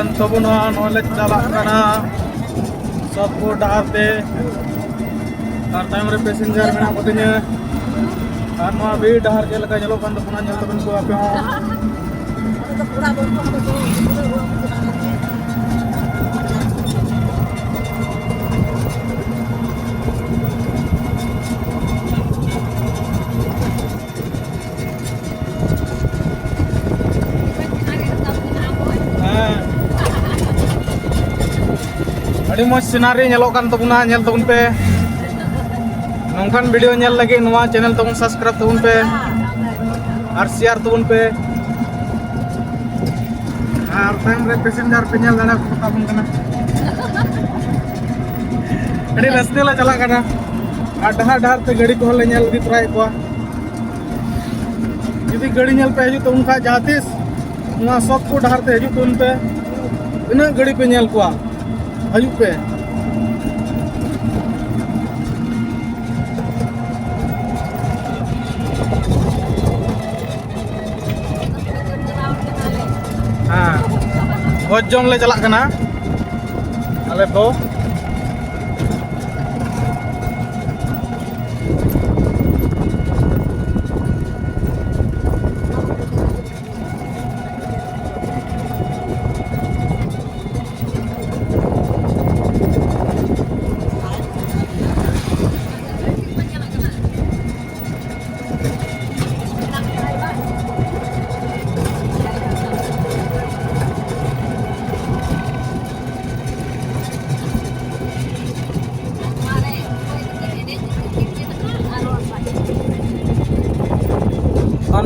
ᱠᱟᱱ ᱛᱟᱵᱚᱱᱟ ᱱᱚᱣᱟ ᱞᱮ ᱪᱟᱞᱟᱜ ᱠᱟᱱᱟ ᱥᱚᱛᱯᱩᱨ ᱰᱟᱦᱟᱨ ᱛᱮ ᱟᱨ ᱛᱟᱭᱚᱢ ᱨᱮ ᱯᱮᱥᱮᱧᱡᱟᱨ ᱢᱮᱱᱟᱜ ᱠᱚᱛᱤᱧᱟ ᱟᱨ ᱱᱚᱣᱟ ᱵᱤᱨ ᱰᱟᱦᱟᱨ ᱪᱮᱫ ᱞᱮᱠᱟ ᱧᱮᱞᱚᱜ ᱠᱟᱱ ᱛᱟᱵᱚᱱᱟ ᱧᱮᱞ ᱛᱟᱵᱚᱱ ᱠᱚ ᱟᱯᱮ ᱦᱚᱸ ᱟᱹᱰᱤ ᱢᱚᱡᱽ ᱥᱤᱱᱟᱨᱤ ᱧᱮᱞᱚᱜ ᱠᱟᱱ ᱛᱟᱵᱚᱱᱟ ᱧᱮᱞ ᱛᱟᱵᱚᱱ ᱯᱮ ᱱᱚᱝᱠᱟᱱ ᱵᱷᱤᱰᱤᱭᱳ ᱧᱮᱞ ᱞᱟᱹᱜᱤᱫ ᱱᱚᱣᱟ ᱪᱮᱱᱮᱞ ᱛᱟᱵᱚᱱ ᱥᱟᱵᱥᱠᱨᱟᱭᱤᱵ ᱛᱟᱵᱚᱱ ᱯᱮ ᱟᱨ ᱥᱮᱭᱟᱨ ᱛᱟᱵᱚᱱ ᱯᱮ ᱟᱨ ᱛᱟᱭᱚᱢ ᱨᱮ ᱯᱮᱥᱮᱱᱡᱟᱨ ᱯᱮ ᱧᱮᱞ ᱫᱟᱲᱮ ᱠᱚ ᱛᱟᱵᱚᱱ ᱠᱟᱱᱟ ᱟᱹᱰᱤ ᱨᱟᱹᱥᱠᱟᱹ ᱞᱮ ᱪᱟᱞᱟᱜ ᱠᱟᱱᱟ ᱟᱨ ᱰᱟᱦᱟᱨ ᱰᱟᱦᱟᱨ ᱛᱮ ᱜᱟᱹᱰᱤ ᱠᱚᱦᱚᱸ ᱞᱮ ᱧᱮᱞ ᱤᱫᱤ ᱛᱚᱨᱟᱭᱮᱫ ᱠᱚᱣᱟ ᱡᱩᱫᱤ ᱜᱟᱹᱰᱤ ᱧᱮᱞ ᱯᱮ ᱦᱤᱡᱩᱜ ᱛᱟᱵᱚᱱ ᱠᱷᱟᱱ ᱡᱟᱦᱟᱸ ᱛᱤᱥ ᱱᱚᱣᱟ ᱥᱚᱠ ᱠᱚ ᱰᱟᱦᱟᱨ ᱛᱮ ᱦᱤᱡᱩᱜ ᱛᱟᱵᱚᱱ ᱯᱮ ᱛᱤᱱᱟᱹᱜ ᱜᱟᱹᱰᱤ ᱯᱮ ᱧᱮᱞ ᱠᱚᱣᱟ ᱦᱤᱡᱩᱜ ᱯᱮ ᱵᱷᱚᱡᱽ ᱡᱚᱢ ᱞᱮ ᱪᱟᱞᱟᱜ ᱠᱟᱱᱟ ᱟᱞᱮ ᱠᱚ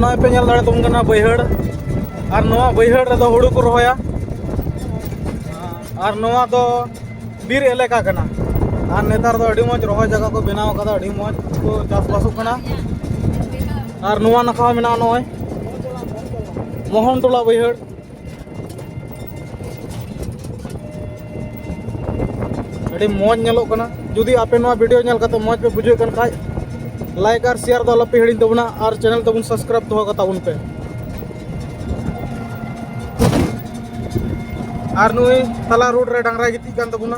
ᱱᱚᱜᱼᱚᱭ ᱯᱮ ᱧᱮᱞ ᱫᱟᱲᱮᱭᱟᱛᱟᱵᱚᱱ ᱠᱟᱱᱟ ᱵᱟᱹᱭᱦᱟᱹᱲ ᱟᱨ ᱱᱚᱣᱟ ᱵᱟᱹᱭᱦᱟᱹᱲ ᱨᱮᱫᱚ ᱦᱩᱲᱩ ᱠᱚ ᱨᱚᱦᱚᱭᱟ ᱟᱨ ᱱᱚᱣᱟ ᱫᱚ ᱵᱤᱨ ᱮᱞᱟᱠᱟ ᱠᱟᱱᱟ ᱟᱨ ᱱᱮᱛᱟᱨ ᱫᱚ ᱟᱹᱰᱤ ᱢᱚᱡᱽ ᱨᱚᱦᱚᱭ ᱡᱟᱭᱜᱟ ᱠᱚ ᱵᱮᱱᱟᱣ ᱠᱟᱫᱟ ᱟᱹᱰᱤ ᱢᱚᱡᱽ ᱠᱚ ᱪᱟᱥᱵᱟᱥᱚᱜ ᱠᱟᱱᱟ ᱟᱨ ᱱᱚᱣᱟ ᱱᱟᱠᱷᱟ ᱦᱚᱸ ᱢᱮᱱᱟᱜᱼᱟ ᱱᱚᱜᱼᱚᱭ ᱢᱳᱦᱚᱱ ᱴᱚᱞᱟ ᱵᱟᱹᱭᱦᱟᱹᱲ ᱟᱹᱰᱤ ᱢᱚᱡᱽ ᱧᱮᱞᱚᱜ ᱠᱟᱱᱟ ᱡᱩᱫᱤ ᱟᱯᱮ ᱱᱚᱣᱟ ᱵᱷᱤᱰᱤᱭᱳ ᱧᱮᱞ ᱠᱟᱛᱮ ᱢᱚᱡᱽ ᱯᱮ ᱵᱩᱡᱷᱟᱹᱣ ᱠᱟᱱ ᱠᱷᱟᱡ ᱞᱟᱭᱤᱠ ᱟᱨ ᱥᱮᱭᱟᱨ ᱫᱚ ᱟᱞᱚᱯᱮ ᱦᱤᱲᱤᱧ ᱛᱟᱵᱚᱱᱟ ᱟᱨ ᱪᱮᱱᱮᱞ ᱛᱟᱵᱚᱱ ᱥᱟᱵᱥᱠᱨᱟᱭᱤᱵ ᱫᱚᱦᱚ ᱠᱟᱛᱟᱵᱚᱱ ᱯᱮ ᱟᱨ ᱱᱩᱭ ᱛᱟᱞᱟ ᱨᱳᱰ ᱨᱮ ᱰᱟᱝᱨᱟᱭ ᱜᱤᱛᱤᱡ ᱠᱟᱱ ᱛᱟᱵᱚᱱᱟ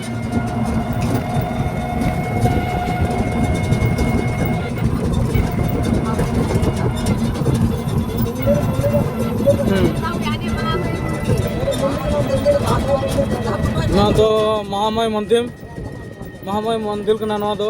ᱱᱚᱣᱟ ᱫᱚ ᱢᱚᱦᱟᱢᱟᱭ ᱢᱚᱱᱫᱤᱨ ᱢᱚᱦᱟᱢᱟᱭ ᱢᱚᱱᱫᱤᱨ ᱠᱟᱱᱟ ᱱᱚᱣᱟ ᱫᱚ